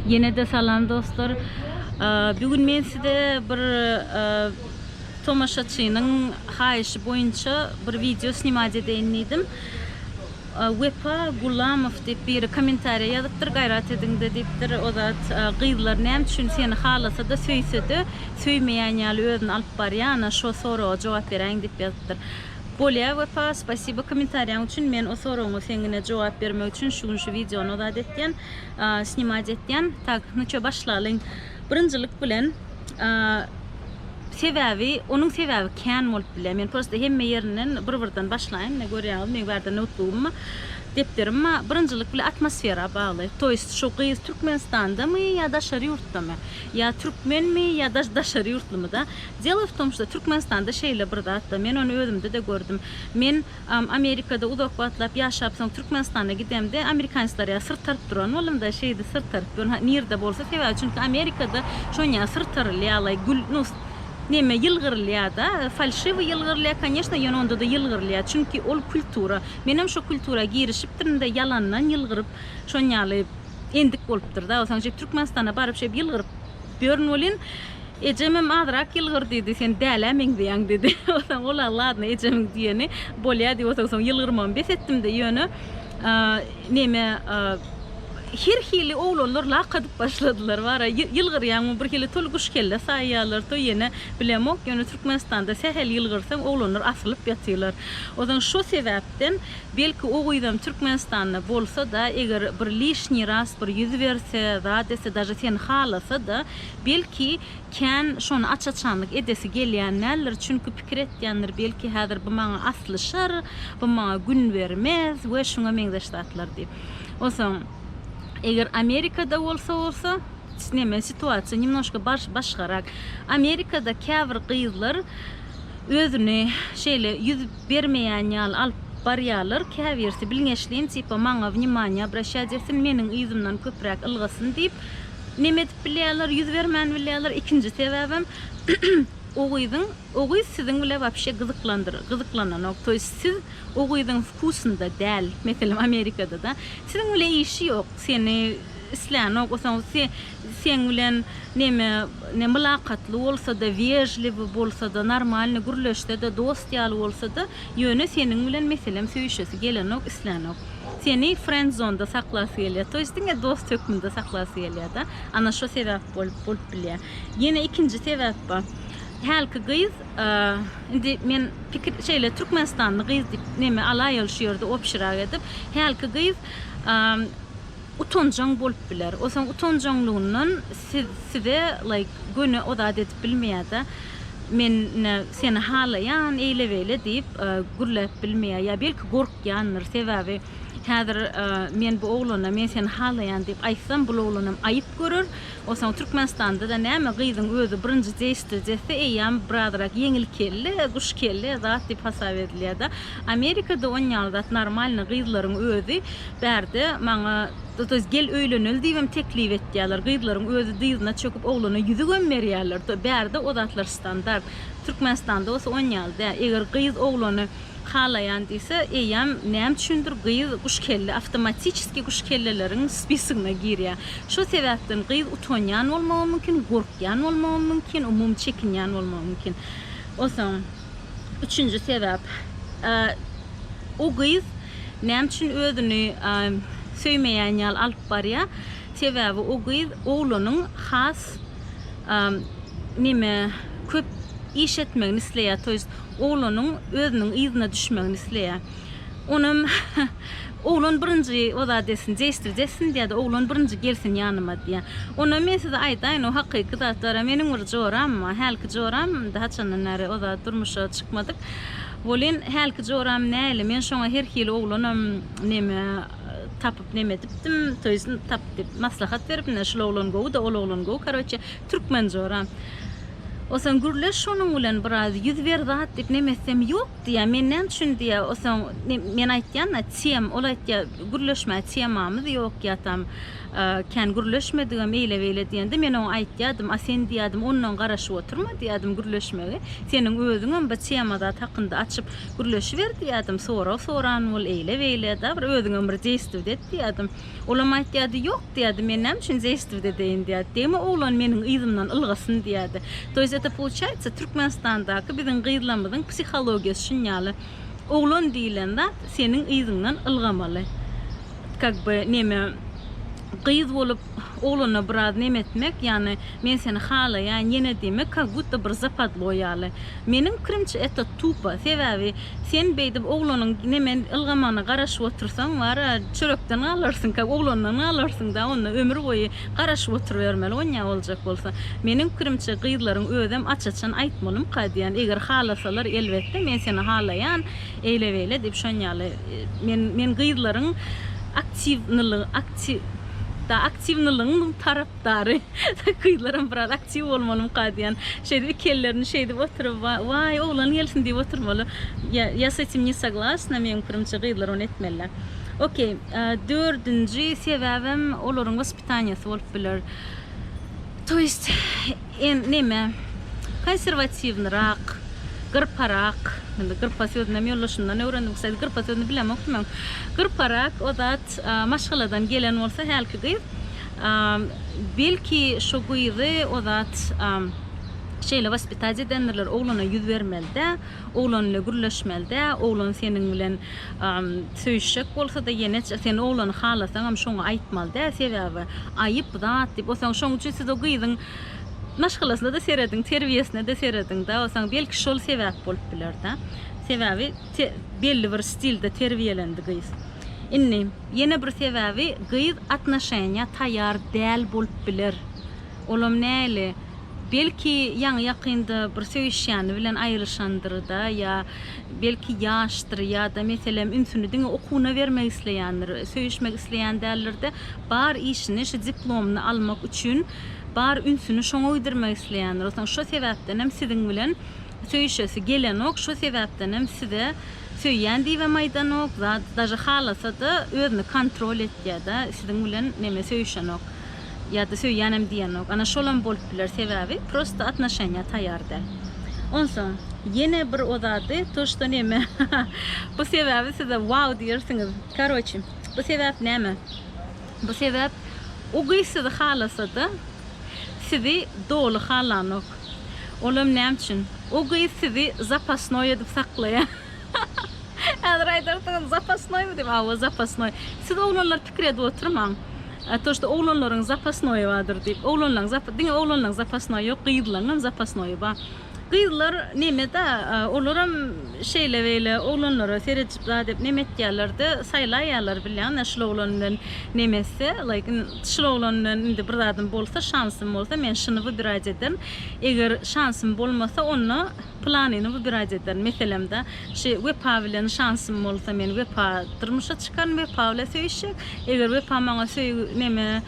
Ýene-de salam dostlar. Bu gün men size bir tomaşaçynyň haýyşy boýunça bir wideo snimat edeýin diýdim. Wepa Gulamow diýip biri kommentariýa ýazypdyr, gaýrat ediň-de diýipdir. O zat gyzlar näme üçin seni halasa-da, söýse-de, söýmeýän ýaly özüni alyp barýar? Ana, şo soraga jogap beräýiň diýip ýazypdyr. Bolýa Wepa spasibo komentarýaň üçin men o soragyňa seňňine jogap bermek üçin şu gün şu wideony ozat etýän snimać etýän tak nu ço başlalyň birinjilik bilen sebäbi onuň sebäbi kän bolup bilýä men prosta hemme ýerinden bir birden başlaýyn mine görýäňiz meň bärde noutbugymma depderimma birinjilik bilen atmosfera bagly toýst şu gyz türkmenistandamy ýa daşary ýurtdamy ýa türkmenmi ýa daşary ýurtlumyda Delo w tom, što Türkmenistanda şeýle bir zat bar. Men ony özümde-de gördüm. Men Amerikada uzak wagtlap ýaşap, soň Türkmenistana gidemde, amerikanisler ýaly syrt aryp duran bolumda, şeýdi syrt aryp dur, ha, nirde bolsa, sebäbi çünki Amerikada şon ýaly syrt arylýar, alaý, gül, nu, neme, ýylgyrylýar-da, falşiwi ýylgyrylýar, konýeşna, ýöne onda-da ýylgyrylýar, çünki ol kultura. Menem şo kultura girişipdirin-de, ýalandan ýylgyryp, şon ýaly endik bolupdyr-da, onsoň je Türkmenistana baryp şeýdip ýylgyryp ýörün welin, Ejemem azrak ýylgyr diýdi, sen dälä meňzeýäň diýdi. Onsoň olam ladno ejemiň diýeni bolýa diýip onsoň soň ýylgyrmamy bes etdimde ýöne neme her hili oglanlar lak adyp başladylar bara ýylgyrýaňmy bir hili to guş kelle saýýarlar to ýene bilemok ýöne Türkmenistanda sähel ýylgyrsaň oglanlar asylyp ýatylar. Onsoň şo sebäpden belki o gyzam Türkmenistanda bolsada eger bir lişniý raz bir ýüz berse zat etse daže seni halasada Belki, kän şony aç-açanlyk edesi gelýän däldir, çünki pikir etýändir, belki, häzir bu maňa aslyşar, bu maňa gün bermez we şuňa meňzeş zatlar diýip. Onsoň, eger Amerikada bolsa bolsa, neme, situasiýa nemnoşka barş başgarak. Amerikada käbir gyzlar özüni şeýle ýüz bermeýän ýaly alyp barýarlar, käbirisi bilňeçleýin, tipa, maňa wniomaniýa obraşýa desin, meniň yzymdan köpräk ylgasyn diýip, Neme edip bilýärler, ýüz bermän bilýärler, ikinji sebäbem o gyzyň, o gyz siziň bile wapşe gyzyklandyr, gyzyklananok, to ýest siz o gyzyň wkusynda däl, meselem Amerikada-da, siziň bile işi ýok, seni islänok, o soň se, seň bilen neme, ne mylakatly bolsa-da, wežliwi bolsa-da, normalny gürleşse-de, dost ýaly bolsa-da, ýöne seniň bilen meselem söýüşesi gelenok, islänok. Seni frenzonda saklasy gelýär. To ýest diňe dost hökmünde saklasy gelýärda. Ana şo sebäp bolup bolup bilýär. Ýene ikinji sebäp bar. Hälki gyz indi men pikir şeýle türkmenistanly gyz diýip neme alaýaly şu ýerde obşirak edip. Hälki gyz utanjaň bolup biler. Osaň utanjaňlygyndan siz size like göni o zat edip bilmeýärda. Men ine seni halaýan eýle beýle diýip gürläp bilmeýär. Ýa belki gork Ýandyr, sebäbi häzir men bu oglana men seni halaýan diýip aýtsam, bul oglanam aýyp görer. Onsoň Türkmenistanda-da näme, gyzyň özi birinji dejtejesi eýýäm birazrak ýeňil kelle, guş kelle zat diýip hasap edilýär-de. Amerikada on ýaly zat normalny gyzlaryň özi bärde maňa toýs gel öýleneli diýibem teklip etýärler. Gyzlaryň özi dyzyna çöküp oglana ýüzügem berýärler. Bärde o zatlar standart. Türkmenistanda bolsa on ýaly däl. Eger gyz oglany halaýan diýse, eýýäm näme üçindir gyz guşkelle awtomatiçeski guşkelleleriň spisigine girýär. Şo sebäpden gyz utanýan bolmagy mümkin, gorkýan bolmagy mümkin, umumy çekinýän bolmagy mümkin. Onsoň üçünji sebäp, o gyz näme üçin özüni söýmeýän ýaly alyp barýar? Sebäbi o gyz oglanyň has neme köp iş etmegini isleýär, to ýest oglanyň özüniň yzyna düşmegini isleýär. Onam Oglan birinji ozat etsin, jeşdirje etsin diýýär-de, oglan birinji gelsin ýanyma diýýär. Onam men size aýdaýyn, o hakyky zat bar-a, meniň bir joram bar. Hälki joram, indi haçandan bäri ozat durmuşa çykmadyk welin, hälki joram nähili, men şoňa her hili oglanam neme tapyp neme edipdim, to ýest tapyp diýip, maslahat beripdim-de, şul oglan gowy-da, ol oglan gowy, karoçe, Türkmen jora. Osaň gürleş şonuň bilen biraz ýüz ber zat diýip neme etsem ýok diýýä men näme üçin diýýä osaň men aýtýanda tem ol aýtýa gürleşmä temamyz ýok ýatam kän gürleşmedigem eýle beýle diýende men oňa aýtýadym a sen diýýädim ondan garaşyp oturma diýýädim gürleşmegi seniň özüňem bir tema zat hakynda açyp gürleşiber diýýädim sorag soran bol eýle beýle da bir özüňem bir deýstwde et diýýädim. Olam aýtýardy, Ýok diýýärdi, men näme üçin zeýstw edeýin diýýärdi. Degme oglan meniň yzymdan ylgasyn diýýärdi. To ýest eta pouçaýtsa Türkmenistandaky biziň gyzlamyzyň psihologiýasy şun ýaly. Oglan diýilen zat seniň yzyňdan ylgamaly. Kak by neme gyz bolup oglana biraz neme etmek ýagny men seni halaýaýyn ýene diýmek kak budda bir zapodlo ýaly. Meniň pikirimçe eta tupa sebäbi Sen beýdip oglanyň neme ylgamagyna garaşyp otursaň bara çörekden galarsyňka oglandan galarsyňda onda ömür boýy garaşyp oturybermeli onýa boljak bolsa. Meniň pikirimçe gyzlaryň özem aç açan aýtmalymka diýän eger halasalar elbetde men seni halaýan eýle beýle diýip şonýaly men men gyzlaryň aktiwnylygy aktiw da aktiwnylygyň tarap Dary, gyzlaram biraz aktiw bolmalymyka diýen. Şeýdip iki ellerini şeýdip oturyp, waý, oglan gelsin diýip oturmaly. Ýa, ýa s etim ne soglasna, meň pikirimçe gyzlar ony etmeliler. Okey, dördünji sebäbem olaryň waspitaniýasy bolup biler. To ýest, en, neme, konserwatiwnyrak, gyrparak, indi gyrpa sözünem ýoldaşymdan öwrendim, kstati, gyrpa sözüni bilemokdym öň, gyrparak o zat, Wagt maşgaladan gelen bolsa hälki gyz belki şu gyzy o zat şeýle waspitać edendirler oglana ýüz bermelidä oglan ile gürleşmelidä oglan seniň bilen söýüşjek bolsada ýene sen oglany halasaňam şoňa aýtmalydä sebäbi aýyp zat diýip o saň şoň üçin siz o gyzyň maşgalasynada serediň terbiýesinede serediňdä o saň belki şol sebäp bolup bilerdä sebäbi belli bir stilde terbiýelendi gyz. Indi, ýene bir sebäbi gyz atnoşeniýa taýýar däl bolup biler. Olam näli? Belki, ýaňy-ýakynda bir söýüşýäni bilen aýryşandyr-da, ýa, belki, ýaşdyr, ýa-da, meselem, ünsüni diňe okuwyna bermek isleýändir. Söýüşmek isleýän däldir-de, bar işini, şu diplomyny almak üçin bar ünsüni şoňa gidirmek isleýändir. Soň şo sebäpdenem siziň bilen söýüşesi gelenok, şo sebäpdenem size Söýýän diýibem aýdanok zat daže halasada özüni kontrol etýäda siziň bilen neme söýüşenok ýada söýýänem diýenok ana şolam bolup biler sebäbi prosta atnoşeniýa taýar däl onsoň ýene bir o zady to şto neme bu sebäbi size wow diýersiňiz karoçi bu sebäp näme. Bu sebäp o gyz sizi halasa-da, sizi doly halanok. Olam näme üçin? O gyz sizi zapasnoý edip saklaýar. Häzir aýdarsyňyz, Zapasnoýmy diýip? Hawa, zapasnoý. Siz oglanlar pikir edip oturmaň. A to, şto oglanlaryň zapasnoýy bardyr diýip. Oglanlaň zapa, diňe oglanlaň zapasnoýy ýok, gyzlaňam zapasnoýy bar. Gyzlar neme-da, olaram şeýle-beýle oglanlara seredip zat edip neme etýärler-de, saýlaýarlar bilýäň-ä şul oglan bilen neme etse, laýkin şul oglan bilen indi bir zadym bolsa, şansym bolsa, men şuny wybirać ederin, eger şansym bolmasa, onda pylanyny wybirać ederin. Meselem-de, şi Wepa bilen şansym bolsa, men Wepa durmuşa çykaryn, Wepa bile söýüşjek, eger Wepa maňa söýgi neme,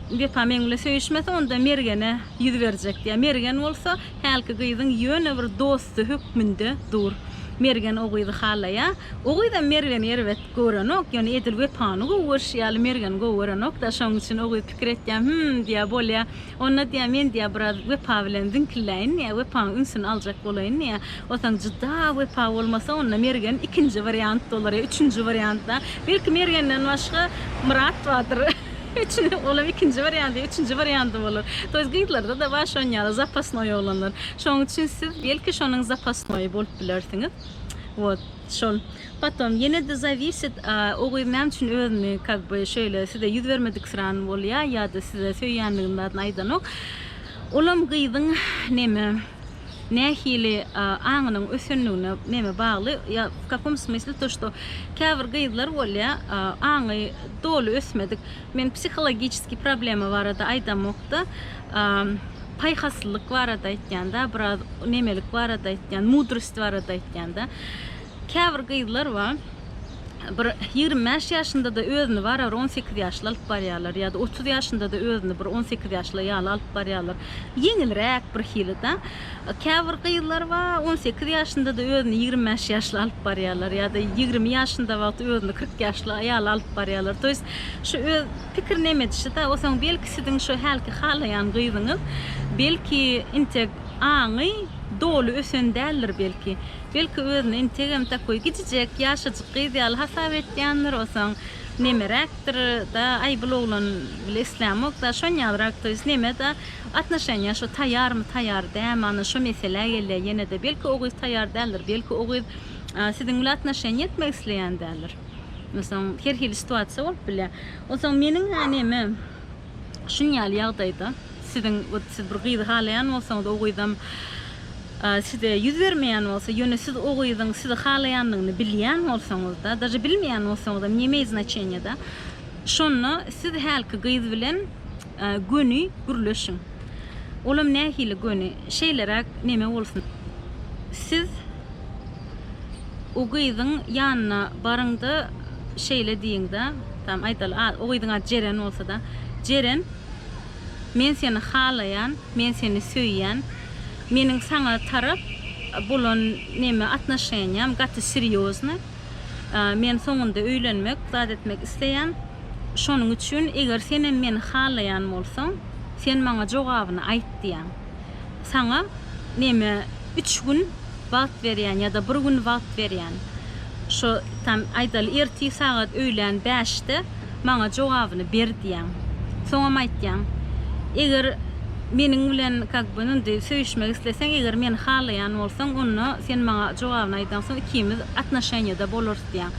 Wepa meň bile söýüşmese, onda Mergene. Ýüz berjek diýýär. Mergen bolsa hälki gyzyň ýöne bir dosty hökmünde dur. Mergen o gyzy halaýar. O gyzam Mergeni erbet görenok, ýöne edil Wepany gowy görşi ýaly Mergeni gowy görenok-da, şonuň üçin o gyz pikir etýär, Hüm, diýýär, bolýa. Onda diýýär, men diýýär, biraz Wepa bilen ziňkilläýin diýýär, Wepanyň ünsüni aljak bolaýyn diýýär. Otaň juda Wepa bolmasa, onda Mergen ikinji wariant bolar ýa üçünji wariant-da. Belki Mergenden başga Myrat bardyr. Üçini olam ikinji wariant ýa üçünji wariant bolar. To ýest gyzlarda-da bar şonuň ýaly zapasnoý oglanlar. Şonuň üçin siz belki şonuň zapasnoýy bolup bilersiňiz. Wot şol. Potom ýene-de zawisit o gyz näme üçin özüni kak by şeýle size ýüz bermedik sran bolýa ýa-da size söýýändigini zadyny aýdanok. Olam gyzyň neme Nähili aňynyň ösendigine näme bagly? Ýa w kakom smysli to što käbir gyzlar bolýa aňy doly ösmedik men psihologiçeskiý problema barada aýdamokda paýhaslylyk barada aýtýanda biraz nemelik barada aýtýan mudrost barada aýtýanda käbir gyzlar ba. bir ýigrimi bäş ýaşynda-da özüni bara bir on sekiz ýaşly alyp barýarlar ýa-da otuz ýaşynda-da özüni bir on sekiz ýaşly ýaly alyp barýarlar. Ýeňilräk birhili-da. Käbir gyzlar bar, on sekiz ýaşynda-da özüni ýigrimi bäş ýaşly alyp barýarlar ýa-da ýigrimi ýaşynda wagty özüni kyrk ýaşly ýaly alyp barýarlar. To ýest, şu öz pikirini em edişi-de. Osaň belki siziň şu hälki halaýan gyzyňyz belki intek aňy doly ösen däldir belki. Belki özüni integem takoý gijijek ýaşajyk gyz ýaly hasap etýändir, osaň nemeräkdir da, aý bul oglan bile islämokda, şonýalyrak toýs neme da, atnoşeniýa şo taýarmy taýar dämi ana şo meselä gelýä ýenede belki o gyz taýar däldir, belki o gyz siziň bile atnoşeniýa etmek isleýän däldir, osaň her hili situasiýa bolup bilýä, osaň meniň-ä neme. Şunuň ýaly ýagdaýda siziň ot siz bir gyzy halaýan bolsaňyz o gyzam size ýüz bermeýän bolsa ýöne siz o gyzyň sizi halaýandygyny bilýän bolsaňyzda daže bilmeýän bolsaňyzam ne imeýt znaçenýada şonda siz hälki gyz bilen göni gürleşiň olam nähili göni şeýleräk neme bolsun siz O gyzyň ýanyna baryň-da, şeýle diýiň-de, tamam, aýdaly, o gyzyň ady Jeren bolsa-da, Jeren, men seni halaýan, men seni söýýän, meniň saňa tarap bolan neme, atnoşeniýam gaty serýoznyý, men soňunda öýlenmek, zat etmek isleýän, şonuň üçin, eger senem meni halaýan bolsaň, sen maňa jogabyny aýt diýýän. saňa neme üç gün wagt berýän ýa-da bir gün wagt berýän. Şo tam aýdaly ertir sagat öýlän bäşde maňa jogabyny ber diýýäň. Soňam aýtýaň. Eger meniň bilen kak by indi söýüşmek isleseň, eger meni halaýan bolsaň, onda sen maňa jogabyny aýdansoň ikimiz atnoşeniýada bolarys diýýäň.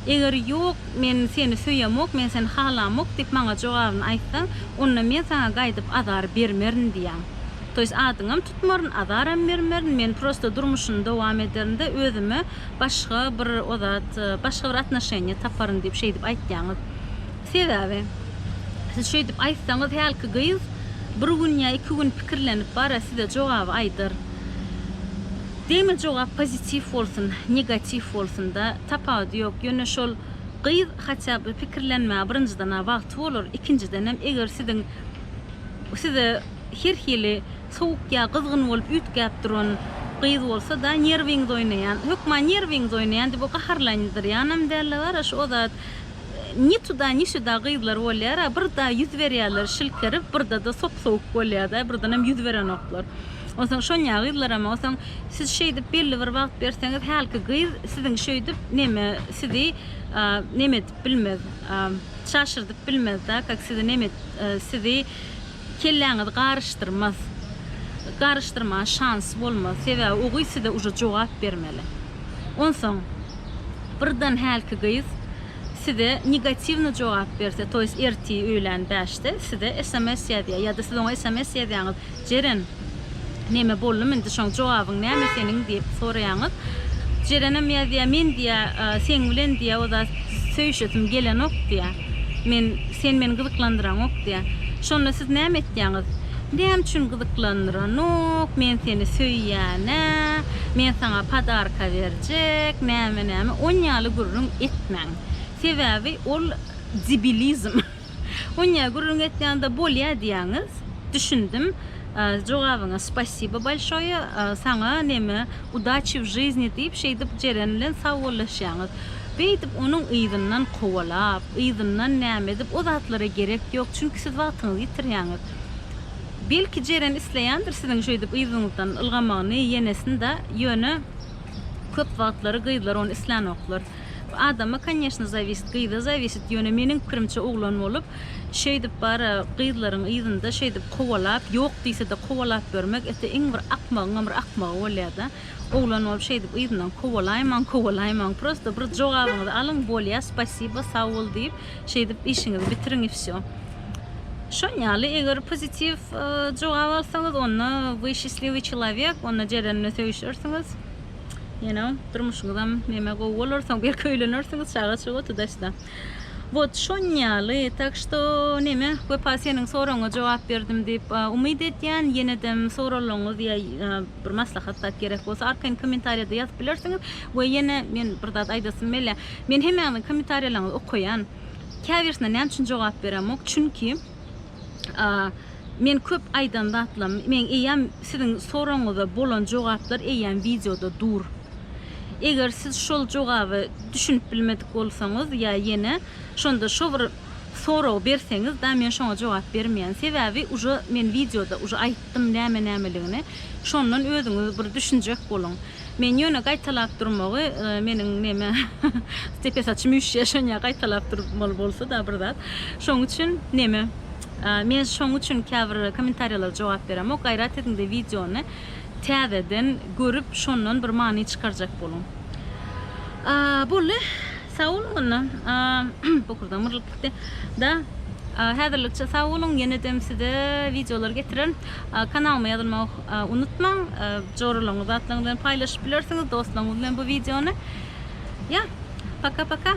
Eger ýok, Men seni söýemok, men seni halamok diýip maňa jogabyny aýtsaň, onda men saňa gaýdyp azar bermerin diýýän. To ýest adyňam tutmaryn, azaram bermerin, men prosta durmuşyny dowam ederin-de, özüme başga bir o zat, başga bir atnoşeniýa taparyn diýip şeýdip aýtýaňyz. Sebäbi, siz şeýdip aýtsaňyz, hälki gyz bir gün ýa iki gün pikirlenip bar-a, size jogaby aýdar. Degme jogap pozitiw bolsun negatiw bolsunda tapawudy ýok ýöne şol gyz haça bir pikirlenmä birinjiden a wagty bolar ikinjidenem eger siziň size her hili sowuk ýa gyzgyn bolup üýtgäp duran gyz bolsa da nerwiňiz oýnaýan hökman nerwiňiz oýnaýan diýip o gaharlandyrýanam dälde bara şu o zat Ni tuda ni şuda gyzlar bolýara birda ýüz berýärler şilkerip birdada sop sowuk bolýada birdenem ýüz berenoklar onsoň şonýa gyzlaram onsoň siz şeýdip belli bir wagt berseňiz hälki gyz siziň şeýdip neme sizi neme edip bilmez şaşyrdyp bilmezda kak sizi neme sizi Kelläňizi garyşdyrmaz. Garyşdyrmaga şansy bolmaz. Sebäbi o gyz size uje jogap bermeli. Onsoň birden hälki gyz size negatiwny jogap berse, toýs ertir öýlän bäşde size sms ýazýar ýa-da siz oňa sms ýazýaňyz, Jeren, Neme boldum indi şoň jogabyň näme seniň diýip soraýaňyz. Jerenem ýazýa men diýä seň bilen diýä o zat söýüşesim gelenok diýä. Men sen meni gyzyklandyraňok diýä. Şonda siz näme etýäňiz? Näme üçin gyzyklandyranok men seni söýýänä men saňa padarka berjek näme näme on ýaly gürrüň etmäň. Sebäbi ol debilizm. Oňa gürrüň etýände bolýa diýýäňiz. Düşündim. Jogabyňa spasibo bolşoýe. Saňa neme udaçi w žyzni diýip şeýdip Jeren bilen sagbollaşýaňyz. Beýdip onuň yzyndan kowalap, yzyndan näme edip o zatlara gerek ýok. Çünki siz wagtyňyzy ýitirýäňiz. Belki Jeren isleýändir siziň şeýdip yzyňyzdan ylgamagyny ýenesinde, ýöne köp wagtlary gyzlar ony islänoklar. Adama koneşno zawisit gyza zawisit ýöne meniň pikirimçe oglan bolup şeýdip bara gyzlaryň yzynda şeýdip kowalap ýok diýsede kowalap ýörmek ete iň bir akmagyňam bir akmagy bolýada oglan bolup şeýdip yzyndan kowalaýmaň kowalaýmaň prosto bir jogabyňyzy alyň bolýa spasiba sag bol diýip şeýdip işiňizi bitiriň i wsýo şonýaly eger pozitiw jogap alsaňyz onda we şisliwi çilawek onda jerenine söýüşersiňiz. You know, durmuşyňyzam neme gowy bolar, soň belki öýlenersiňiz, çaga çuga tudaşda. Wot şon ýaly, tak što neme, Wepa seniň soragyňa jogap berdim diýip umyt edýän. Ýenedem soralaryňyz ýa bir maslahat zat gerek bolsa arkaýyn kommentariýada ýazyp bilersiňiz. We ýene men bir zat aýdasym gelýär. Men hemmäňiziň kommentariýalaryňyzy okaýan. Käbirisine näme üçin jogap beremok? Çünki Men köp aýdan zatlam men eýýäm siziň soragyňyza bolan jogaplar eýýäm wideoda dur. Eger siz şol jogaby düşünip bilmedik bolsaňyz ýa ýene şonda şo bir soragy berseňiz da men şoňa jogap bermeýän. Sebäbi uje men wideoda uje aýtdym näme nämeligini. Şondan özüňiz bir düşünjek boluň. Men ýöne gaýtalap durmagy meniň neme stepe saçym üşýär şonýa gaýtalap durmaly bolsada bir zat şoň üçin neme men şoň üçin käbir kommentariýalara jogap beremok gaýrat ediňde wideony täzeden görüp şondan bir many çykarjak boluň boldy sag boluň onda bokurdam myrlyp gitdi da häzirlikçe sag boluň ýenedem size wideolar getirerin kanalyma ýazylmagy Unutmaň, joralaryňyzy atlaryňyz bilen paýlaşyp bilersiňiz, dostlaryňyz bilen bu wideony. Ýa, paka-paka!